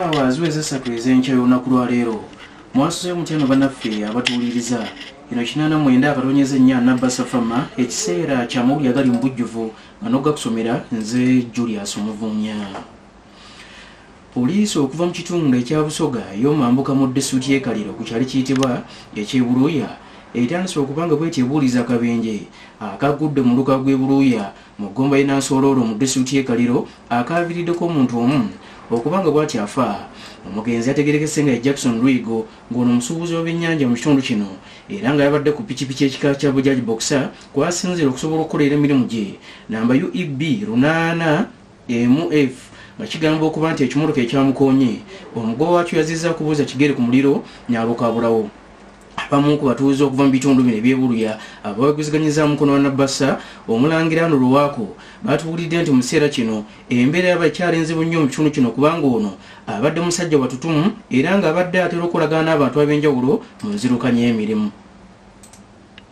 Awa ziweze essatu ez'enkya y'olunaku lwa leero mwasuzeyo mutya no banaffe abatuwuliriza eno kinaana mwenda akatonyeza ennya nabba safama ekiseera kya mawuli agali mu bujjuvu nga nogakusomera nze julius omuvunya poliisi okuva mu kitundu ekya busoga ey'omambuka mu disitulikiti y'ekaliro ku kyali kiyitibwa ekyebuluuya etandise okuba nga bwetyo ebuuliza akabenje akagudde mu luka gw'ebuluuya Mu ggomba y'e Nansooloola mu disitulikiti y'e Kaliro akaaviiriddeko omuntu omu okuba nga bw'atyo afa. Omugenzi yategeerekese nga ye Jackson Lwigo ng'ono musuubuzi wa byennyanja mu kitundu kino era nga yabadde ku pikipiki ekika kya Bajaj Boxer kw'asinziira okusobola okukolera emirimu gye namba UEB lunaana emu F nga kigamba okuba nti ekimotoka ekyamukoonye omugoba waakyo yazizza kubuuza kigere ku muliro n'abukaabulawo. abamu ku batuuze okuva mu bitundu bino ebyebuluya abaweguziganyiza mukono wa nabbasa omulangira ano luwaako batuwulidde nti mu kiseera kino embeera yaba ekyali nzibu nnyo mu kitundu kino kubanga ono abadde musajja watutumu era ng'abadde atera okolagana n'abantu ab'enjawulo mu nzirukanya emirimu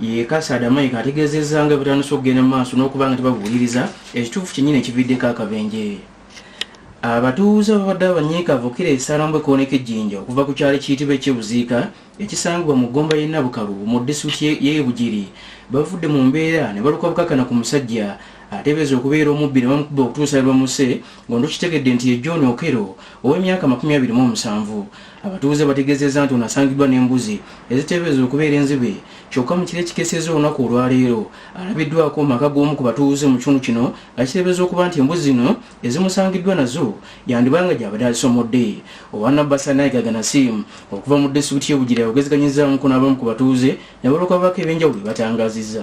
Ye Kasaada Mike ategeezezza nga bwetandise okugenda mu maaso n'okuba nga tebabuuliriza ekituufu kyennyini ekividdeko akabenje. Abatuuze babadde abanyiikavu okukira esalambwe kooneka ejjinja okuva ku kyalo ekiyitibwa eky'e Buziika ekisangibwa mu ggomba y'e Nabukalu mu disitulikiti y'e Bugiri bavudde mu mbeera ne baluka bukakana ku musajja ateebereza okubeera omubbi ne bamukuba okutuusa lwe bamusse ng'ono tukitegedde nti ye John Okello ow'emyaka amakumi abiri mu omusanvu Abatuuze bategeezezza nti ono asangiddwa n'embuzi eziteeberezebwa okubeera enzibe kyokka mu kiro ekikeesezza olunaku olwaleero alabiddwako mu maka g'omu ku batuuze mu kitundu kino nga kiteebereza okuba nti embuzi zino ezimusangiddwa nazo yandiba nga gyabadde azisomodde owa nabbasa nayiga ganasiimu okuva mu disitulikiti y'e Bugiri ayogezeganyizzaamuko n'abamu ku batuuze ne balooka babaako ebyenjawulo bye batangaazizza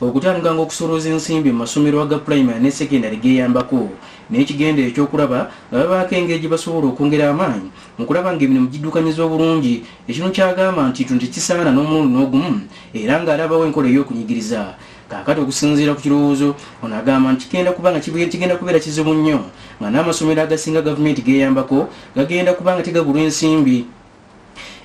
Okutandikanga okusolooza ensimbi mu masomero aga pulayimale ne sekendale geeyambako n'ekigendererwa eky'okulaba nga babaako engeri gye basobola okwongera amaanyi mu kulaba ng'emirimu giddukanyizibwa bulungi ekinu ky'agamba nti kino tekisaana n'omulundi n'ogumu era ng'alabawo enkola ey'okunyigiriza kaakati okusinziira ku kirowoozo ono agamba nti kigenda kuba nga kigenda kubeera kizibu nnyo nga n'amasomero agasinga gavumenti geeyambako gagenda kuba nga tegabulwa ensimbi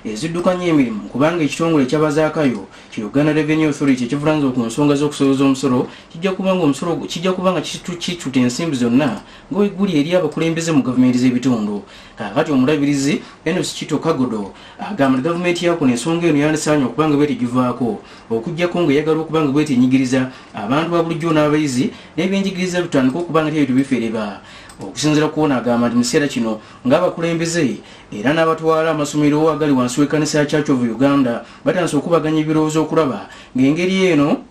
eziddukanya emirimu kubanga ekitongole ekyabazaakayo ki Uganda Revenue Authority ekivulanzo ku nsonga z'okusoloza omusolo kijja kuba nga omusolo kijja kuba nga kituta ensimbi zonna nga weguli eri abakulembeze mu gavumenti z'ebitundu kakati omulabirizi Enos Kito Kagodo agamba nti gavumenti yakuno ensonga eno yandisaanye okuba nga bwetegivaako okujjako nga eyagala okuba nga bwetenyigiriza abantu ba bulijjo n'abayizi n'ebyenjigiriza bitandika okuba nga tebyo tebifeereba okusinzira kuona agamba nti mu kiseera kino ng'abakulembeze era n'abatwala amasomero agali wansi w'ekkanisa ya church of uganda batandise okubaganya ebirowoozo okulaba ng'engeri eno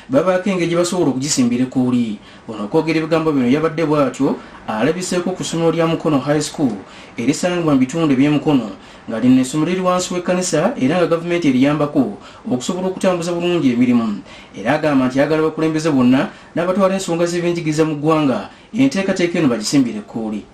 babaako engeri gye basobola okugisimbira ekkuuli ono okwogera ebigambo bino yabadde bw'atyo alabiseeko ku ssomero lya mukono high school erisangibwa mu bitundu eby'emukono nga lino essomero liri wansi w'ekkanisa era nga gavumenti eriyambako okusobola okutambuza bulungi emirimu era agamba nti yagala bakulembeze bonna n'abatwala ensonga z'ebyenjigiriza mu ggwanga enteekateeka eno bagisimbire ekkuuli